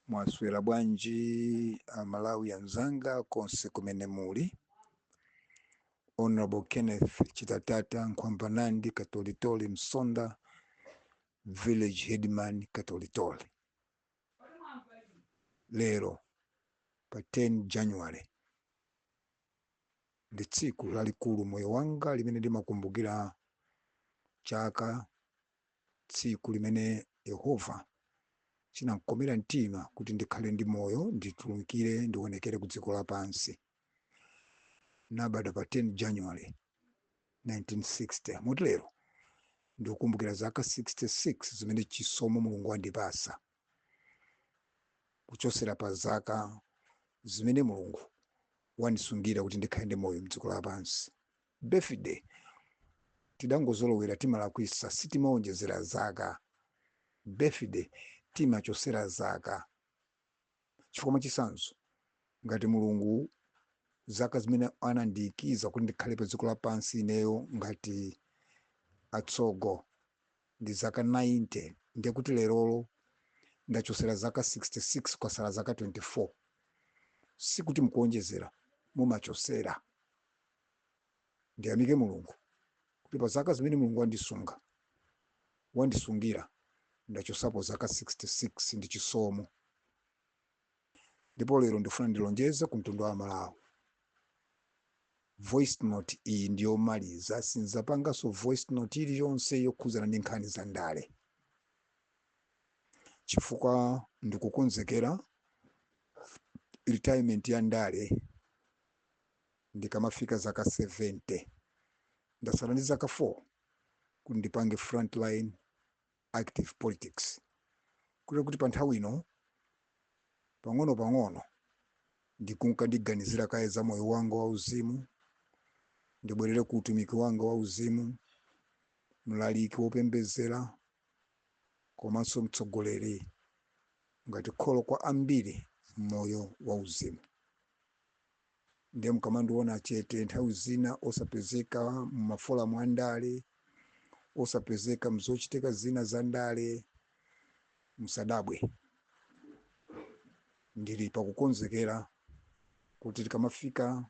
Mwaswera bwanji amalawi anzanga konse kumene muli. Honorable Kenneth Chitatata Nkhwambanandi Katolitoli Msonda Village Headman Katolitoli. Lero pa 10 January ndi tsiku lalikulu m'moyo wanga limene ndimakumbukira chaka tsiku limene Yehova chinamkomera mtima kuti ndikhale ndi moyo, nditulukire ndionekere ku dziko lapansi. Nabadwa pa 10 January 1960. Moti lero ndikukumbukira zaka 66 zimene chisomo Mulungu wandipasa kuchosera pa zaka zimene Mulungu wandisungira kuti ndikhale ndi moyo mdziko lapansi. Birthday tidangozolowera timalakwisa sitimaonjezera zaka birthday timachosera zaka chifukwa mwachisanzo ngati mulungu zaka zimene anandiikiza kuti ndikhale pa dziko lapansi ineyo ngati atsogo ndi zaka 90 ndiye kuti lerolo ndachosera zaka 66 kwasala zaka 24 sikuti mukuonjezera mumachosera ndiyamike Mulungu kuti pa zaka zimene Mulungu wandisunga, wandisungira, ndachosapo zaka 66 ndi chisomo. Ndipo lero ndifuna ndilonjeze ku mtundu wa Malawi. Voice note iyi ndi yomaliza, sinzapanganso voice note iliyonse yokhuzana ndi nkhani za ndale, chifukwa ndikukonzekera retirement ya ndale. ndikamafika zaka 70. Ndasala ndi zaka 4 kuti ndipange frontline active politics kotero kuti panthawi ino pang'onopang'ono ndikunka ndiganizira kaye za moyo wanga wauzimu, ndibwerere ku utumiki wanga wauzimu, mlaliki wopembedzera komanso mtsogoleri ngati kholo kwa ambiri m'moyo wauzimu. ndiye mkamandiona chete nthawi zina osapezeka mumaforamu a ndale osapezeka mzochitika zina za ndale musadabwe ndili pakukonzekera kuti tikamafika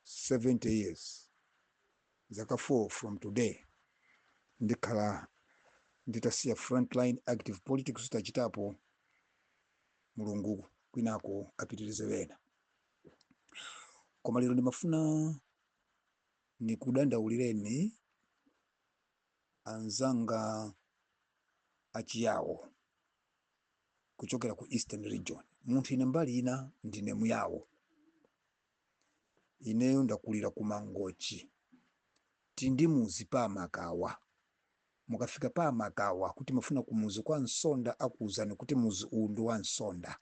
70 years zaka 4 from today ndikhala nditasiya frontline active politics tachitapo Mulungu kwinako apitirize wena. Koma lero ndimafuna nikudandaulireni anzanga achiyawo kuchokera ku Eastern Region. Munthu ine mbali ina ndine muyawo. ineyo ndakulira ku mangochi tindi muzi pa makawa mukafika pa makawa kuti ndimafuna ku muzi kwa nsonda akuuzani kuti muzi uwu ndi wa nsonda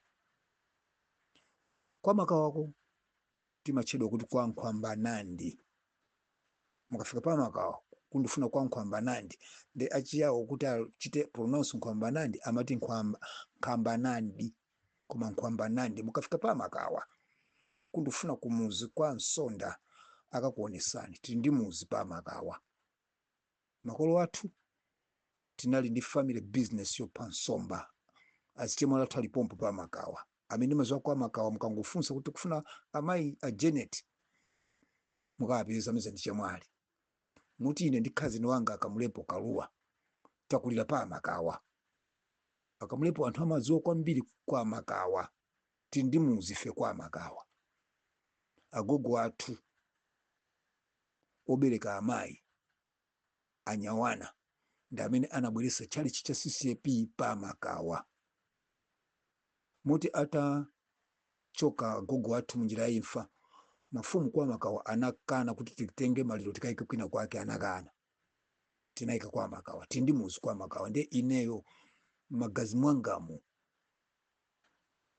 kwa makawako timatchedwa kuti kwa nkhwambanandi mukafika pa makawa kuti ndifuna kwa nkhwambanandi ndiye achiyawo kuti achite pronounce nkhwambanandi amati nkhambanandi koma nkhwambanandi mukafika pa makawa kuti ndikufuna kumuzi kwa nsonda akakuonesani tili ndi muzi pa makawa makolo athu tinali ndi family business yopha nsomba azichemwali athu ali pompo pa makawa amene mumadziwa kwa makawa mukangofunsa kuti kufuna amayi a janet mukawapeza amene aja ndi chemwali moti ine ndi khazeni wanga akamulepo kaluwa takulira pa makawa akamulepo anthu amadziwa kwambiri kwa makawa tili ndi mudzi ife kwa makawa agogo athu obereka amayi anyawana ndi amene anabweretsa tchalichi cha ccap pa makawa moti atachoka agogo athu munjira ya imfa, mafumu kwa Makawa anakana kuti titenge maliro tikaike kwina kwake, anakana. Tinaika kwa Makawa, tili ndi muzi kwa Makawa, ndiye ineyo m'magazi mwangamu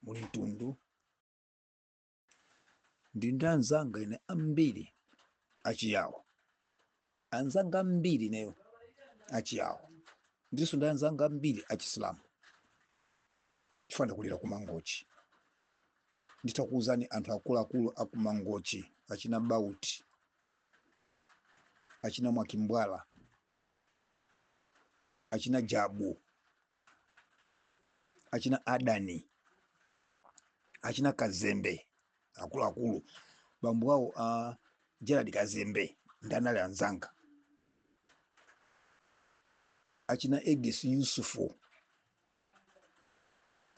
muli mtundu Ndili ndi anzanga ine ambiri achiyawo, anzanga ambiri ineyo achiyawo, ndilinso ndi anzanga ambiri achisilamu chifukwa ndakulira ku Mangochi. Nditakuwuzani anthu akuluakulu a ku Mangochi achina Bauti, achina Mwakimbwala, achina Jabu, achina adani achina kazembe akuluakulu bambo awo a gerald kazembe adaali anzanga achina edis yusufu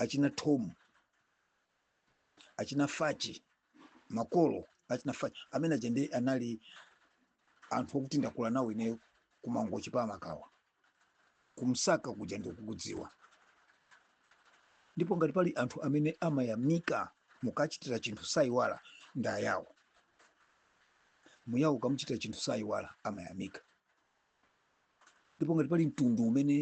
achina tom achina fachi makolo achina fachi amene aja ndiye anali anthu okuti ndakula nawo ineyo ku mangochi pa makawa kumsaka kuja ndikukudziwa ndipo ngati pali anthu amene amayamika mukachitira chinthu sayiwala ndi ayawo muyawo ukamuchitira chinthu sayiwala amayamika ndipo ngati pali mtundu umene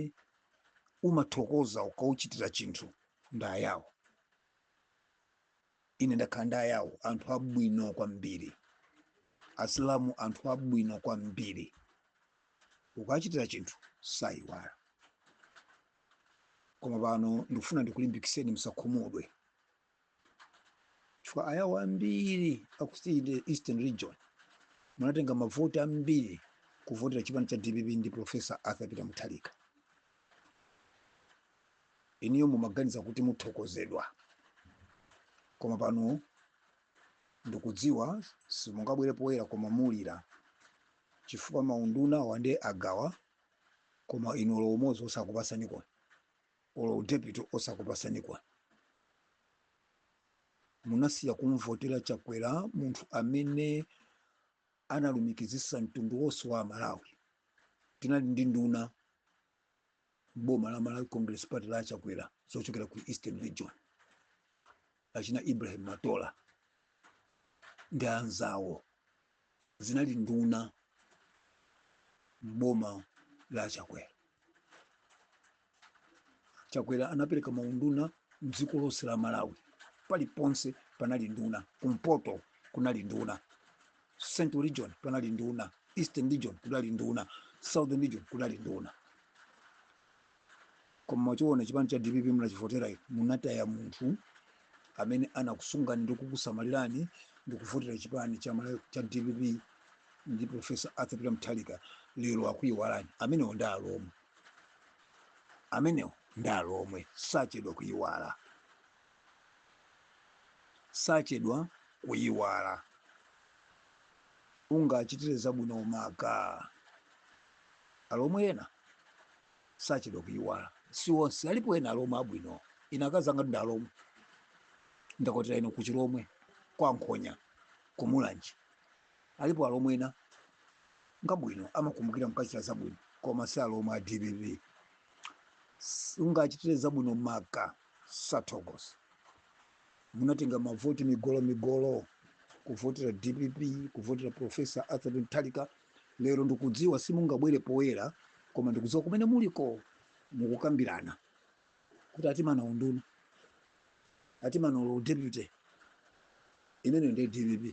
umathokoza ukauchitira chinthu ndi ayawo ine ndakhala ndi ayawo anthu abwino kwambiri asilamu anthu abwino kwambiri ukachitira chinthu sayiwala koma pano ndikufuna ndikulimbikiseni musakhumudwe chifukwa ayawo ambiri aku eastern region munatenga mavoti ambiri kuvotera chipani cha dpp ndi professor arthur peter mutharika inuyo mumaganiza kuti muthokozedwa koma pano ndikudziwa simungabwere poyera koma mulira chifukwa maundunawa nde agawa koma inu olo umodzi osakupasaniko olo u deputy osakupasaniko? munasiya kumvotera chakwera munthu amene analumikizisa mtundu wonse wa amalawi tinali ndi nduna m'boma la malawi congress party la achakwera zochokera ku eastern region achina Ibrahim Matola ndi anzawo zinali nduna m'boma la Chakwera. Chakwera anapereka maunduna mdziko lonse la Malawi, paliponse panali nduna. Kumpoto kunali nduna, Central Region panali nduna, Eastern Region kunali nduna, Southern Region kunali nduna. Koma mwachiona chipani cha dpp mnachivotera inu, munataya munthu amene anakusungani ndi kukusamalirani ndi kuvotera chipani cha dpp ndi Professor Arthur Peter Mutharika, lero akuiwalani. Amenewo ndi alomwe, amenewo ndi alomwe, sachedwa kuiwala, sachedwa kuiwala. Ungachitire zabwino maka alomwe ena sachedwa kuyiwala si onse alipo ena alomwe abwino ine akazi anga ndi alomwe ndakwatira ine ku chilomwe kwa nkhonya ku mulanje alipo alomwe ena ngabwino amakumbukira mkachita zabwino koma si alomwe a dpp ungachitire zabwino maka sathokoza munatenga mavoti migolo migolo kuvotera dpp kuvotera profesa arthur mutharika Lero ndikudziwa simungabwere poyera koma ndikudziwa kumene muliko mukukambirana kuti atimana unduna atimana olo deputy imene ndi dpp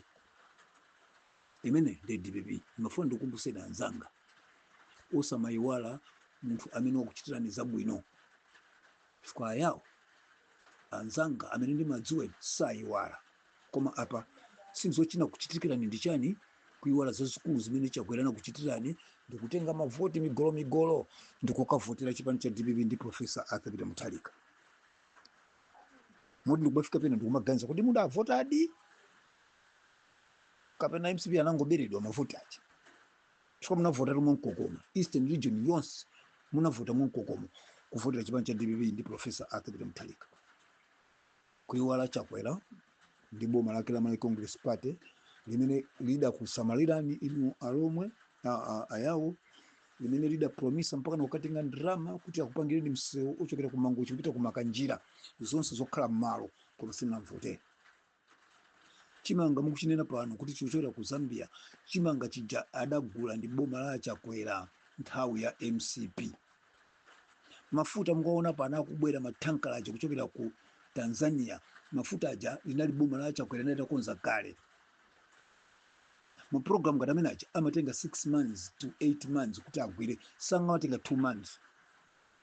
imene ndi dpp nimafuna ndikukumbuseni anzanga osamayiwala munthu amene wakuchitirani zabwino chifukwa ayawo anzanga amene ndimadziwa sayiwala Koma apa sindiziwa chinakuchitikirani ndi chani kuiwala zazikulu zimene chakwera anakuchitirani ndikutenga mavoti migolomigolo ndikukavotera chipani cha dpp ndi profesa arthur peter mutharika moti ndikubafika pena ndikumaganiza kuti mudavotadi kapena mcp anangoberedwa mavoti aja chifukwa munavota mwamkokomo eastern region yonse munavota mwamkokomo kuvotera chipani cha dpp ndi profesa arthur peter mutharika Kuiwala Chakwera ndi boma lake la Malawi Congress Party limene lidakusamalirani inu alomwe a- a- ayawo limene lidapromisa mpaka nakukatenga ndalama kuti akupangireni msewu ochokera ku mangochi kupita ku makanjira zonse zokhala m'malo koma simunamuvotere chimanga mukuchinena pano kuti chochokera ku zambia chimanga chija adagula ndi boma la chakwera nthawi ya mcp mafuta mukaona pana akubwera mathanka aja kuchokera ku tanzania mafuta aja linali boma la chakwera linali litakonza kale ma program ngati amene aja amatenga 6 months to 8 months kuti agwire sangamatenge 2 months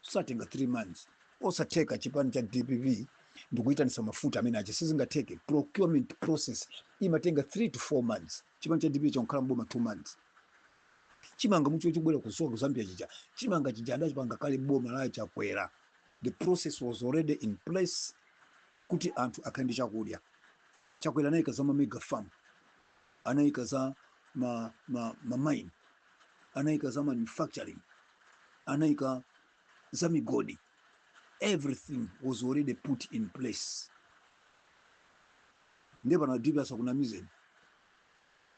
satenga 3 months osatheka chipani cha dpp ndikuyitanisa mafuta amene aja sizingatheke procurement process imatenga 3 to 4 months chipani cha dpp chakhala mboma 2 months chimanga mukuti chobwera kuchoka ku Zambia chija chimanga chija adachipanga kale boma la Chakwera the process was already in place kuti anthu akhale ndi chakudya Chakwera anayika za ma mega farm anayika za ma, ma, ma mine anayika za manufacturing anayika za migodi everything was already put in place ndiye pano a DPP asakunamizeni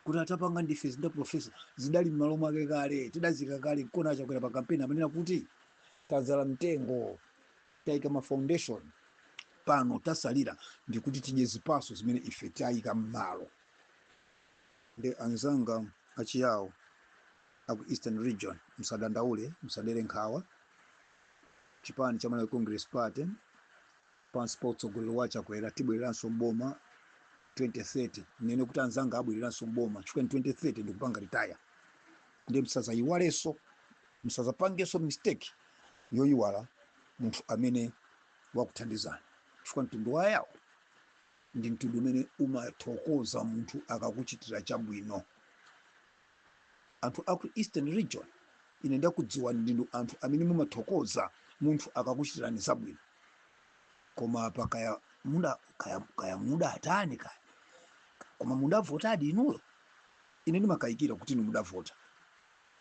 kuti tapanga ndife zinthu profesa zidali m'malo mwake kale tidaziika kale nkona achakwera pa kampeni amanena kuti tadzala mtengo tayika ma foundation pano chatsalira ndikuti tidye zipaso zimene ife tayika m'malo ndi anzanga achiyawo aku eastern region msadandaule msadere nkhawa chipani cha malawi congress party Pansi pa utsogoleri wa Chakwera tibweleranso m'boma 2030. Ndinene kuti anzanga abweleranso m'boma chifukwa ine 2030 ndikupanga retire. Ndiye msazayiwalenso, msazapangenso mistake yoyiwala munthu amene wakuthandizani chifukwa mtundu wa Yao ndi mtundu umene umathokoza munthu akakuchitira chabwino. Anthu aku Eastern Region ine ndakudziwani ndinu anthu amene mumathokoza munthu akakuchitirani zabwino. Koma apa kaya muda kaya mudatani kaya. Koma mudavotadi inuyo? Ine ndimakayikira kuti inu mudavota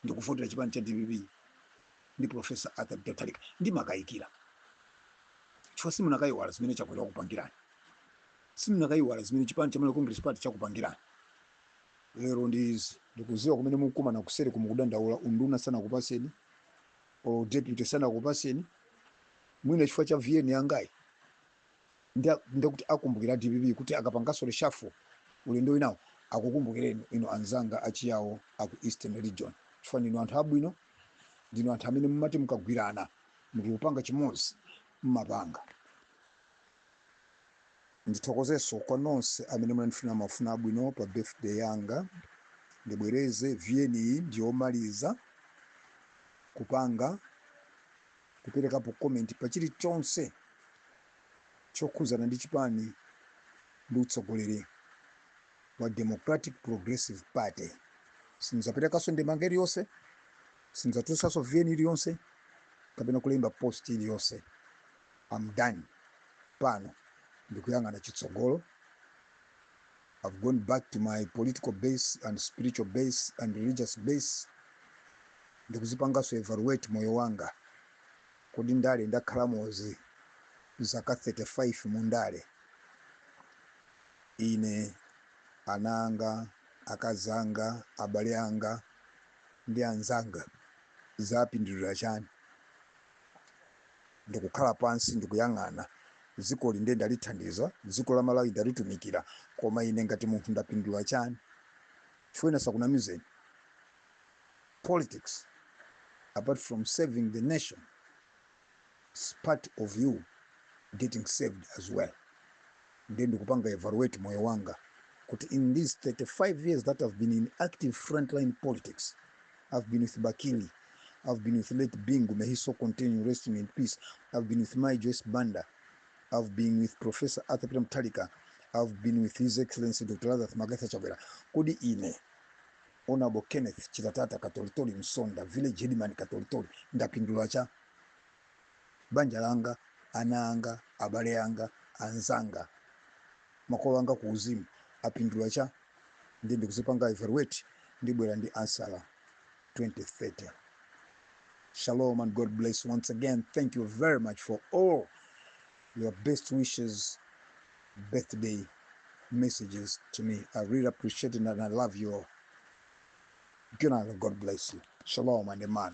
ndikuvotera chipani cha dpp ndi Professor Arthur Peter Mutharika. Ndimakayikira chifukwa simunakayiwala zimene Chakwera wakupangirani, simunakayiwala zimene chipani cha Malawi Congress Party chakupangirani. lero ndi izi ndikuziwa kumene mukumana kuseriko mukudandaula unduna sanakupaseni or deputy sanakupaseni mwina chifukwa cha vn yangayi ndakukumbutsira a dpp kuti akapangaso reshuffle ulendo winawo akukumbukireni inu anzanga achiyawo aku eastern region chifukwa ndinu anthu abwino ndinu anthu amene mumati mukagwirana nkupanga chimodzi mmapanga Ndithokozeso kwa nonse amene munandifunira mafuno abwino pa birthday yanga. Ndibwereze vn iyi ndiyomaliza kupanga, kuperekapo comment pa chilichonse chokhuzana ndi chipani ndi utsogoleri wa Democratic Progressive Party. Sinzaperekaso ndemanga iliyonse, sinzatulusaso vn iliyonse kapena kulemba post iliyonse. I'm done pano ndikuyang'ana chitsogolo i've gone back to my political base and spiritual base and religious base ndikuzipanganso evaluate moyo wanga kodi ndale ndakhalamozi, zaka 35 mu ndale ine ana anga akazanga abale anga ndi anzanga zapindulira chani ndikukhala pansi ndikuyang'ana dzikoli inde ndalithandiza dziko la Malawi ndalitumikira koma ine ngati munthu ndapindula chani chifukwa ine asakunamizeni politics apart from serving the nation is part of you getting served as well. ndiye ndikupanga evaluate moyo wanga kuti in these 35 years that i've been in active frontline politics i've been with bakili i've been with late bingu may he so continue resting in peace i've been with my joyce banda i've been with professor arthur peter mtalika i've been with his excellency dr lazarus magatha chakwera kodi ine honorable kenneth chitatata katolitoli msonda village headman katolitoli ndapindula cha banja langa, ana anga, abale anga, anzanga, makolo anga ku uzimu apindula chani ndiye ndikuzipanga evaluate ndibwera ndi ansala 2030 shalom and god bless once again thank you very much for all your best wishes birthday messages to me i really appreciate it and i love you all good night and god bless you shalom and amen